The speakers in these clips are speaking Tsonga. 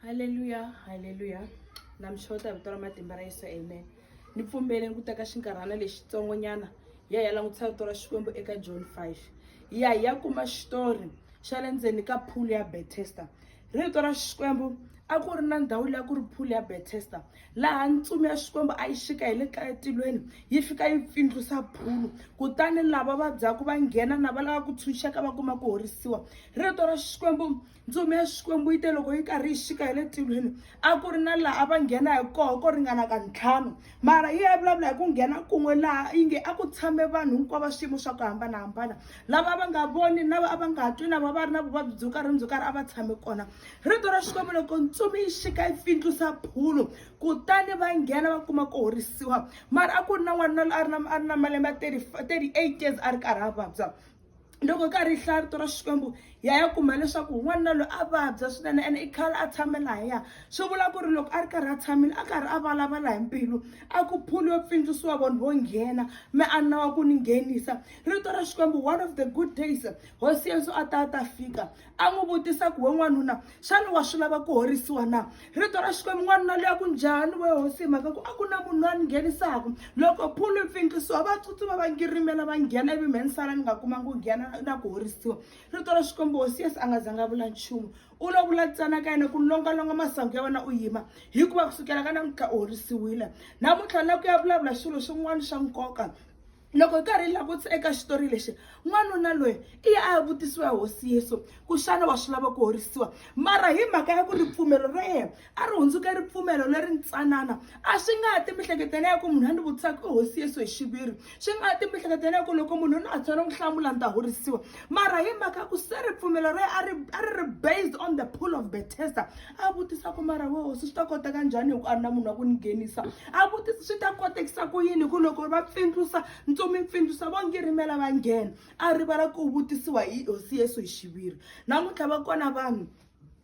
haleluya haleluya na mi xota hi vito ra matimba ra yesu amen ni pfumbele ni ku teka xinkarhana lexitsongo nyana hi ya hi ya langutisa rito ra xikwembu eka john 5 hi ya hi ya kuma xitori xa le ndzeni ka phulu ya bethesta rito ra xikwembu a ku ri na ndhawu leyi a ku ri phulu ya bethesta laha ntsumi ya xikwembu a yi xika hi le ka etilweni yi fika yi pfindlusa phulu kutani lava vabyaku va nghena na va lava ku tshunxeka va kuma ku horisiwa rito ra xikwembu ntsumi ya xikwembu yi te loko yi karhi yi xika hi le tilweni a ku ri na laha a va nghena hi koho ko ringana ka ntlhanu mara yi ya vulavula hi ku nghena kun'we laha yi nge a ku tshame vanhu hinkwavo swiyimo swa ku hambanahambana lava va nga voni na va a va nga twi na va va ri na vuvabyi byo karhi ni byo karhi a va tshame kona rito ra xikwembu loko ntsumi yi xika yi pfindlusa phulu kutani va nghena va kuma ku horisiwa mara a ku ri na n'wanuna loyi a ri na a ri na malembe ya thirty eight years a ri karhi a vabya loko ka ri hlaya vito ra xikwembu ya ya kuma leswaku n'wanuna loyi a vabya swinene ene i khale a tshame laha ya swi vula ku ri loko a ri karhi a tshamile a karhi a vulavula hi mbilu a ku phuli yo pfindzisiwa vanhu vo nghena me a nawa ku ni nghenisa rito ra xikwembu one of the good days hosi yesu a ta a ta fika a n'wi vutisa ku we n'wanuna xana wa swi lava ku horisiwa na rito ra xikwembu n'wanuna loyi a ku njhani we hosi hi mhaka ku a ku na munhu loyi a ni nghenisaka loko phulu yi pfinkisiwa va tsutsuma va ngirimela va nghena ivi mheni sala ni nga kumangi ku nghena na ku horisiwa rito ra xikwembu hosi yesu a nga zanga vula nchumu u lo vula ntsena ka yena ku longalonga masangu ya wena u yima hikuva kusukela ka namuntlha u horisiwile namuntlha na ku ya vulavula swilo swin'wana swa nkoka loko hi karhi hi langutisa eka xitori lexi n'wanuna loyi i ya a ya vutisiwa ya hosi yesu ku xana wa swi lava ku horisiwa mara hi mhaka ya ku ripfumelo ra yena a ri hundzuke ripfumelo leri ntsanana a swi nga ha ti mihleketela ya ku munhu a ni vutisaka i hosi yesu hi xiviri swi nga ha ti mihleketela ya ku loko munhu na ha tshwana ku hlamula ni ta horisiwa mara hi mhaka ya ku se ripfumelo ra yena a ri a ri ri based on the pool of betesta a vutisa ku mara we hosi swi ta koteka njhani hi ku a ri na munhu wa ku ni nghenisa a vutisa swi ta kotekisa ku yini hi ku loko va pfindlusa ntsumi pfindlusa vo ngirimela va nghena a rivala ku vutisiwa hi hosi yesu hi xiviri namuntlha va kona vanhu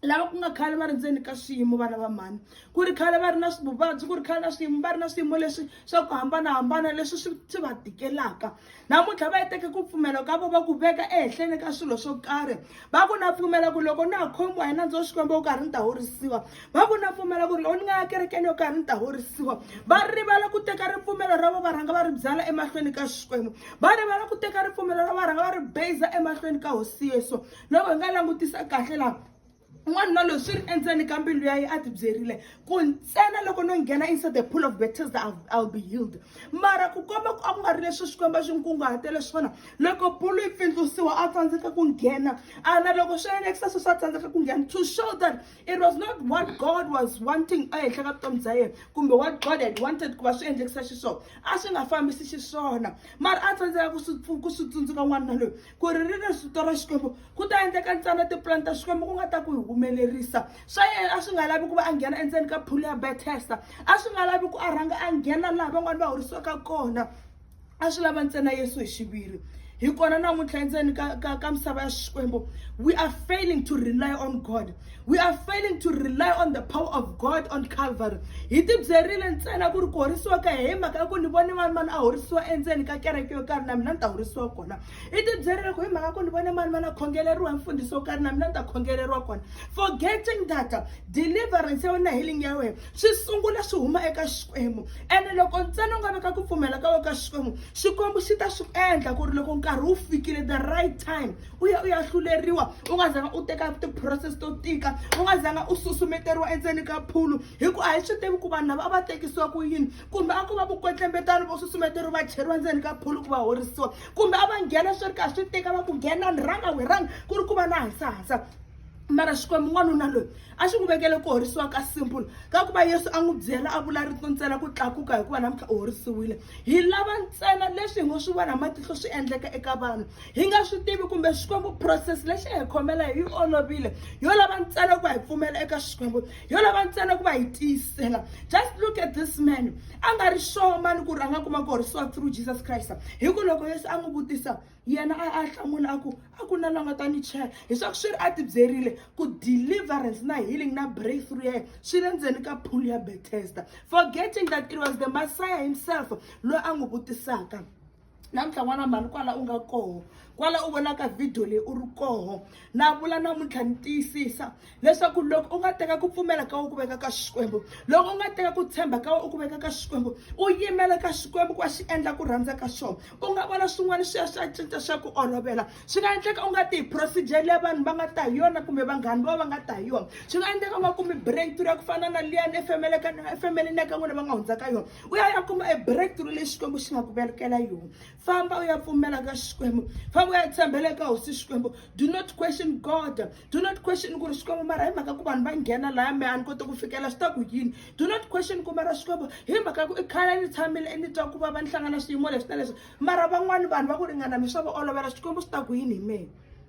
lava ku nga khale va ri ndzeni ka swiyimo vana va mhani ku ri khale va ri na vuvabyi ku ri khale na swiyimo va ri na swiyimo leswi swa ku hambanahambana leswi swi swi va tikelaka namuntlha va yi teke ku pfumela ka vo va ku veka ehenhleni ka swilo swo karhi va ku na pfumela ku loko na ha khomiwa hi nandza wa xikwembu wo karhi ni ta horisiwa va ku na pfumela ku ri loko ni nga ya kerekeni yo karhi ni ta horisiwa va rivala ku teka ripfumelo ra vo va rhanga va ri byala emahlweni ka xikwembu va rivala ku teka ripfumelo ra va rhanga va ri beza emahlweni ka hosi yesu loko hi nga langutisa kahle laha n'wanuna loyi swi ri endzeni ka mbilu ya yi a tibyerile ku ntsena loko no nghena inside the pool of betesda ill be healed mara ku komba ku a ku nga ri leswi xikwembu a xi n'wi kunguhatele swona loko pulu yi pfindlusiwa a tsandzeka ku nghena a na loko swi endlekisa sweswi a tsandzeka ku nghena to show that it was not what god was wanting ehenhla ka vutomi bya yena kumbe what god had wanted ku va swi endlekisa xiswona a swi nga fambisi xiswona mara a tsandzeka ku swi ku swi tsundzuka n'wanuna loyi ku ri ri ri vito ra xikwembu ku ta endleka ntsena tipulani ta xikwembu ku nga ta ku hi humelerisa swa yena a swi nga lavi ku va a nghena endzeni ka phulu ya bethesta a swi nga lavi ku a rhanga a nghena laha van'wani va horisiwaka kona a swi lava ntsena yesu hi xiviri hi kona namuntlha endzeni ka ka ka misava ya xikwembu we are failing to rely on god we are failing to rely on the power of god on calvary hi tibyerile ntsena ku ri ku horisiwa ka hi mhaka ya ku ni vone mani mani a horisiwa endzeni ka kereke yo karhi na mina ni ta horisiwa kona hi tibyerile ku hi mhaka ku ni vone mani mani a khongeleriwa hi mfundhisi wo karhi na mina ni ta khongeleriwa kona forgetting that deliverance ya wena healing ya wena swi sungula swi huma eka xikwembu ene loko ntsena u nga veka ku pfumela ka wena ka xikwembu xikwembu xi ta swi endla ku ri loko nkarhi wu fikile the right time u ya u ya hluleriwa u nga zanga u teka ti-process to tika u nga zanga u susumeteriwa endzeni ka phulu hikuva a hi swi tivi ku vanhu lava a va tekisiwa ku yini kumbe a ku va vukwetlembetani vo susumeteriwa va cheriwa ndzeni ka phulu ku va horisiwa kumbe a va nghena swi ri ka swi tika va ku nghena ni rhanga wi rhanga ku ri ku va na hasahasa mara xikwembu n'wanuna loyi a xi n'wi vekele ku horisiwa ka simple ka ku va yesu a n'wi byela a vula rito ntsena ku tlakuka hikuva namuntlha u horisiwile hi lava ntsena leswi hi ngo swi vona hi matihlo swi endleka eka vanhu hi nga swi tivi kumbe xikwembu process lexi hi khomela hi yi olovile yo lava ntsena ku va hi pfumela eka xikwembu yo lava ntsena ku va hi tiyisela just look at this man a nga ri sure mani ku ri a nga kuma ku horisiwa through jesus christ hi ku loko yesu a n'wi vutisa yena a a hlamula a ku a ku na la nga ta ni chela hiswaku swi ri a tibyerile ku deliverance na healing na breakthrough ya yena swi le ndzeni ka pool ya bethesda forgetting that it was the messiah himself loyi a n'wi vutisaka namuntlha n'wana mhani kwala u nga koho kwala u vonaka vhidiyo leyi u ri koho na vula namuntlha ni tiyisisa leswaku loko u nga teka ku pfumela ka u ku veka ka xikwembu loko u nga teka ku tshemba ka u ku veka ka xikwembu u yimela ka xikwembu ku a xi endla ku rhandza ka xona u nga vona swin'wana swi ya swi ya cinca swa ku olovela swi nga endleka u nga tihi procedure leyi vanhu va nga ta hi yona kumbe vanghani va va nga ta hi yona swi nga endleka u nga kumi breakthrough ya ku fana na liyani efemelekana efemeleni ya ka n'wina va nga hundza ka yona u ya ya kuma e breakthrough leyi xikwembu xi nga ku velekela yona famba u ya pfumela ka xikwembu famba u ya tshembela eka hosi xikwembu do not question god do not question ku ri xikwembu mara hi mhaka ku vanhu va nghena laya me a ni koti ku fikela swi ta ku yini do not question ku mara xikwembu hi mhaka ku i khale ni tshamile ni twa ku va va ni hlangana swiyimo leswi na leswi mara van'wani vanhu va ku ringana mi swa va olovela xikwembu swi ta ku yini hi mehe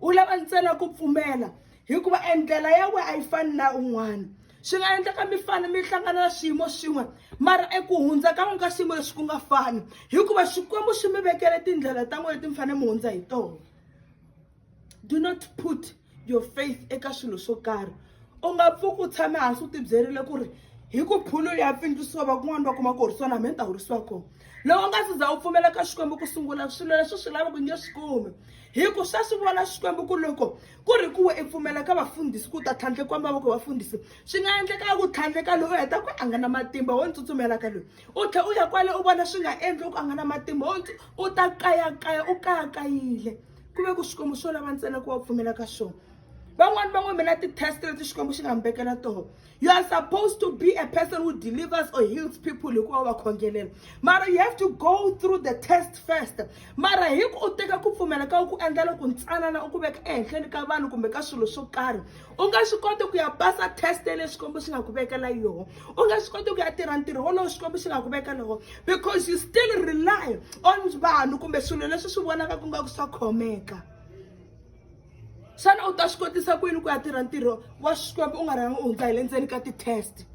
u lava ntsena ku pfumela hikuva endlela ya wena a yi fani na un'wana swi nga endleka mi fane mi hlangana na swiyimo swin'we mara eku hundza ka n'wi ka xiyimo lexi ku nga fani hikuva xikwembu xi mi vekele tindlela ta n'we leti mi fanele mi hundza hi tona do not put your faith eka swilo swo karhi u nga pfuki u tshame hansi u tibyerile ku ri hi ku phulu ya pfindzisiwa va kun'wana va kuma ku horisiwa na mina ta horisiwa kona loko u nga si za u pfumela ka xikwembu ku sungula swilo leswi swi lavaka u nge swi kumi hi ku swa swi vona xikwembu ku loko ku ri kuwe i pfumela ka vafundhisi ku ta tlhandlekiwa mavoko vafundhisi swi nga endleka ku tlhandleka loyi u heta ku a nga na matimba wo ni tsutsumela ka loyi u tlhe u ya kwale u vona swi nga endli u ku a nga na matimba wo u ta kayakaya u kayakayile ku ve ku swikwembu swo lava ntsena ku va pfumela ka swona van'wani van'we mina ti-test leti xikwembu xi nga mi vekela toho you are supposed to be a person who delivers or heals people hikuva wa khongelela mara you have to go through the test first mara hi ku u teka ku pfumela ka ku endla loko ntsanana u ku veka ehenhleni ka vanhu kumbe ka swilo swo karhi u nga swi koti ku ya pasa test ya leswi xikwembu xi nga ku vekela yoho u nga swi koti ku ya tirha ntirho wolowo xikwembu xi nga ku vekela woho because you still rely on vanhu kumbe swilo leswi swi vonaka ku nga ku swa khomeka xana u ta swi kotisa ku yini ku ya tirha ntirho wa xikwembu u nga rhangi u hundza hi le ndzeni ka ti-test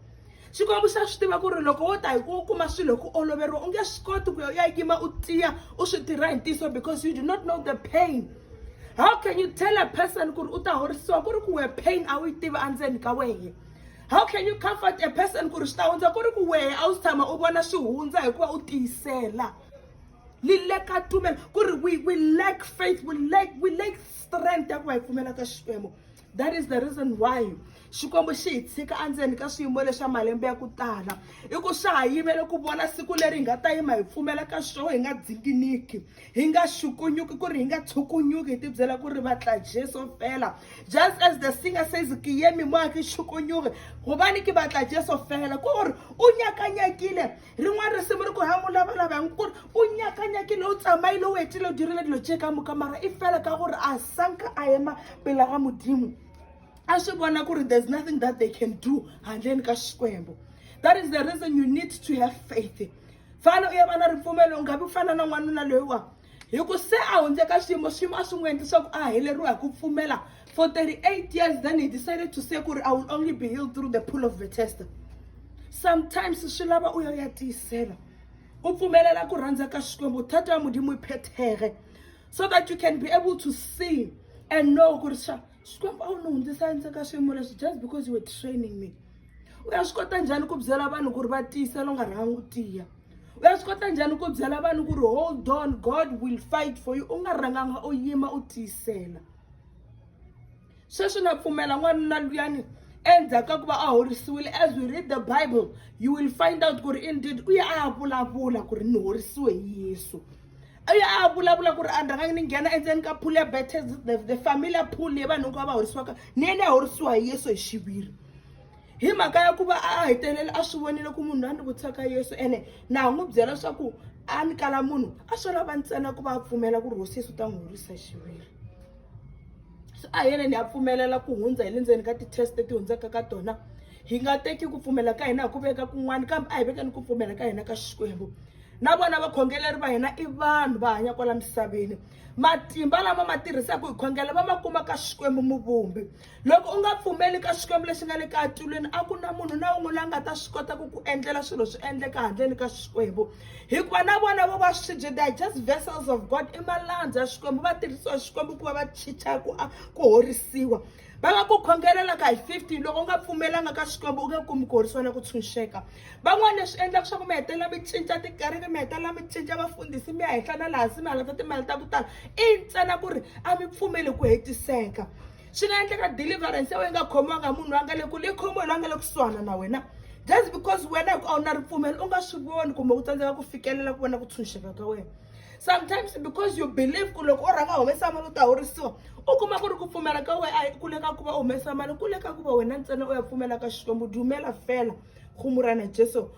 xikwembu xa swi tiva ku ri loko wo ta hi ku kuma swilo ku oloveriwa u nge swi koti ku ya u ya yima u tiya u swi tirha hi ntiyiso because you do not know the pain how can you tell a person ku ri u ta horisiwa ku ri ku wehe pain a wu yi tivi endzeni ka wehe how can you comfort a person ku ri swi ta hundza ku ri ku wehe a wu si tshama u vona swi hundza hikuva u tiyisela li leka tumelo ku ri we, we lack faith we lack, we lack strength ya ku va hi pfumela ka xikwembu that is the reason why xikwembu xi hi tshika endzeni ka swiyimo leswa malembe ya ku tala i ku swa ha yimele ku vona siku leri hi nga ta yima hi pfumela ka swona hi nga dzinginiki hi nga xukunyuki ku ri hi nga tshukunyuki hi tibyela ku ri vatla jesu fela just as the singer says ke yemi moya ke xukunyuki gobane ke batla jesu fela ku gore o nyakanyakile rin'wana risimu ri ku ha n'wi lavalava hi n'wi ku ri u nyakanyakile u tsamaile u hetile u dirile dilo tse ka muka mara i fela ka gore a sanka a ema pela ga modimo a swi vona ku ri there's nothing that they can do handleni ka xikwembu that is the reason you need to have faith fana u ya va na ripfumelo u nga vi fana na n'wanuna loyiwa hi ku se a hundze ka xiyimo xiyimo a swi n'wi endli swa ku a heleriwa hi ku pfumela for 38 years then he decided to say kuri i will only be healed through the pull of the tester sometimes swi lava u ya ya tiyisela u pfumelela ku rhandza ka xikwembu thata ya mudimu yi phethege so that you can be able to see and know ku ri xa xikwembu a wu ni hundzisa endzeni ka swiyimo leswi just because you were training me u ya swi kota njhani ku byela vanhu ku ri va tiyisela u nga rhangi u tiya u ya swi kota njhani ku byela vanhu ku ri hold on god will fight for you u nga rhanganga u yima u tiyisela sweswi na pfumela n'wanuna luyani endzhaku ka ku va a horisiwile as we read the bible you will find out ku ri indeed u ya a ya vulavula ku ri ni horisiwe hi yesu u ya a ya vulavula ku ri a ndrhanga ni nghena endzeni ka pool ya betes the, the familiar pool leyi vanhu hinkwavo va horisiwaka ni yena ya horisiwa hi yesu hi xiviri hi mhaka ya ku va a hetelele a swi vonile ku munhu loyi a ni vutisaka yesu ene na ha n'wi byela leswaku a ni kala munhu a swi lava ntsena ku va a pfumela ku ri hosi yesu u ta n'wi horisa xiviri so a hi yena ni ya pfumelela ku hundza hi le ndzeni ka ti-test ti hundzaka ka tona hi nga teki ku pfumela ka hina hi ku veka kun'wana kambe a hi vekeni ku pfumela ka hina ka xikwembu na vona vakhongeleri va hina i vanhu va hanya kwala misaveni matimba lama ma tirhisaka hi khongela va ma kuma ka xikwembu muvumbi loko u nga pfumeli ka xikwembu lexi nga le ka atulweni a ku na munhu na un'we la nga ta swi kota ku ku endlela swilo swi endleka handleni ka xikwembu hikuva na vona vo va swibye they are just vessels of god i malandza ya xikwembu va tirhisiwa xikwembu ku va va chicha ku ku horisiwa va nga ku khongelelaka hi fifty loko u nga pfumelanga ka xikwembu u nge kumi ku horisiwa na ku tshunxeka van'wana leswi endlaka swa ku mi hetelela mi cinca tikereke mi hetelela mi cinca vafundhisi mi ya henhla na laha hansi mi halata timali ta ku tala i ntsena ku ri a mi pfumeli ku hetiseka swi nga endleka deliverance ya wena yi nga khomiwanga hi munhu loyi a nga le kule yi khomiwe loyi a nga le kusuhana na wena just because wena hi ku a wu na ripfumelo u nga swi voni kumbe u tsandzeka ku fikelela ku vona ku tshunxeka ka wena sometimes because you believe ku loko u rhanga humesa mali u ta horisiwa u kuma ku ri ku pfumela ka wena a yi kule ka ku va u humesa mali kule ka ku va wena ntsena u ya pfumela ka xikwembu dumela fela khumurana jesu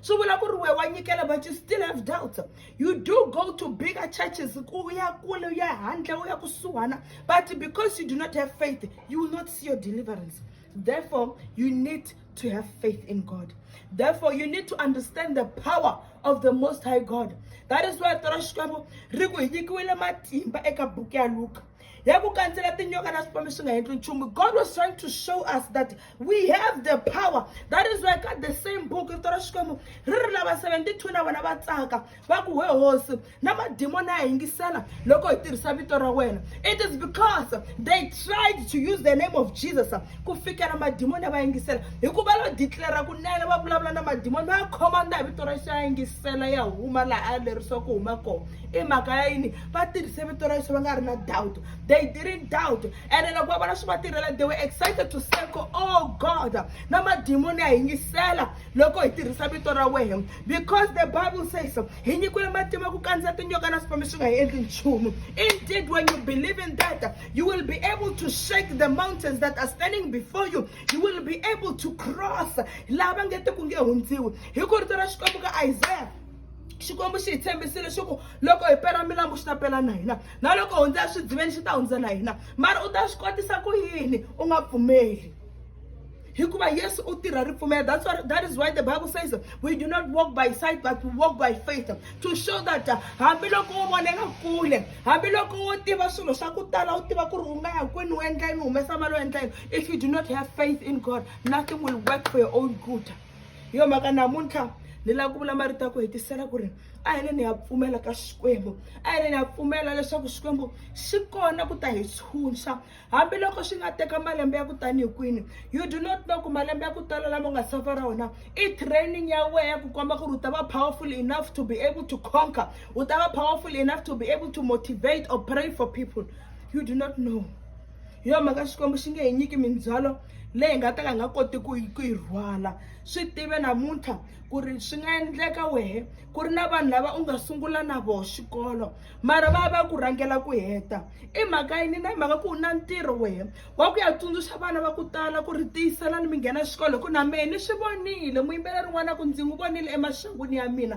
swi vula ku ri we wa nyikela but you still have doubts you do go to bigger churches ku ya kule u ya handle u ya kusuhana but because you do not have faith you will not see your deliverance therefore you need to have faith in god therefore you need to understand the power of the most high god that is why toro xikwembu ri ku hi nyikiwile matimba eka buku ya luka ya ku kandzela tinyoka na swipombi swi nga endli nchumu god was trying to show us that we have the power that is why ka the same book rito ra xikwembu ri ri lava 72 na vona va tsaka va ku we hosi na madimoni a yingisela loko hi tirhisa vito ra wena it is because they tried to use the name of jesus ku fikela madimoni ya va yingisela hikuva lo declara kunene va vulavula na madimoni va ya khomanda hi vito ra xi ya yingisela ya huma laha a lerisiwa ku huma kona i mhaka ya yini va tirhise vito ra yesu va nga ri na doubt they didn't doubt ene loko va vona swi va tirhela they were excited to say ko oh god na madimoni ya hi yingisela loko hi tirhisa vito ra wena because the bible says hi nyikiwile matimba ku kandziya tinyoka na swipami swi nga hi endli nchumu indeed when you believe in that you will be able to shake the mountains that are standing before you you will be able to cross lava nge te ku nge hundziwi hi ku rito ra xikwembu ka isaya xikwembu xi hi tshembisile leswaku loko hi pela milambu xi ta pela na hina na loko hundza eswidziveni xi ta hundza na hina mara u ta swi kotisa ku yini u nga pfumeli hikuva yesu u tirha ripfumelo that's what, that is why the bible says we do not walk by sight but we walk by faith to show that uh, hambiloko wo vonela kule hambiloko wo tiva swilo swa ku tala u tiva ku ri u nga ya kwini u endla yini u humesa mali u endla yini if you do not have faith in god nothing will work for your own good hi yo mhaka namuntlha ni lava ku vula marito ya ku hetisela ku ri a hi le ni ya pfumela ka xikwembu a hi le ni ya pfumela leswaku xikwembu xi kona ku ta hi tshunxa hambiloko swi nga teka malembe ya ku tanihi kwini you do not know ku malembe ya ku tala lama u nga safa ra wona i training ya wehe ya ku komba ku ri u ta va powerful enough to be able to conquer u ta va powerful enough to be able to motivate or pray for people you do not know hi yona mhaka xikwembu xi nge hi nyiki mindzhwalo leyi hi nga ta ka hi nga koti ku ku yi rhwala swi tive namuntlha ku ri swi nga endleka wehe ku ri na vanhu lava u nga sungula na voho xikolo mara va va ku rhangela ku heta i mhaka yini na mhaka ku u na ntirho wehe wa ku ya tsundzuxa vana va ku tala ku ri tiyiselani mi nghena xikolo hi ku na mehe ni swi vonile muyimbeleri n'wana ku ndzi n'wi vonile emaxangwini ya mina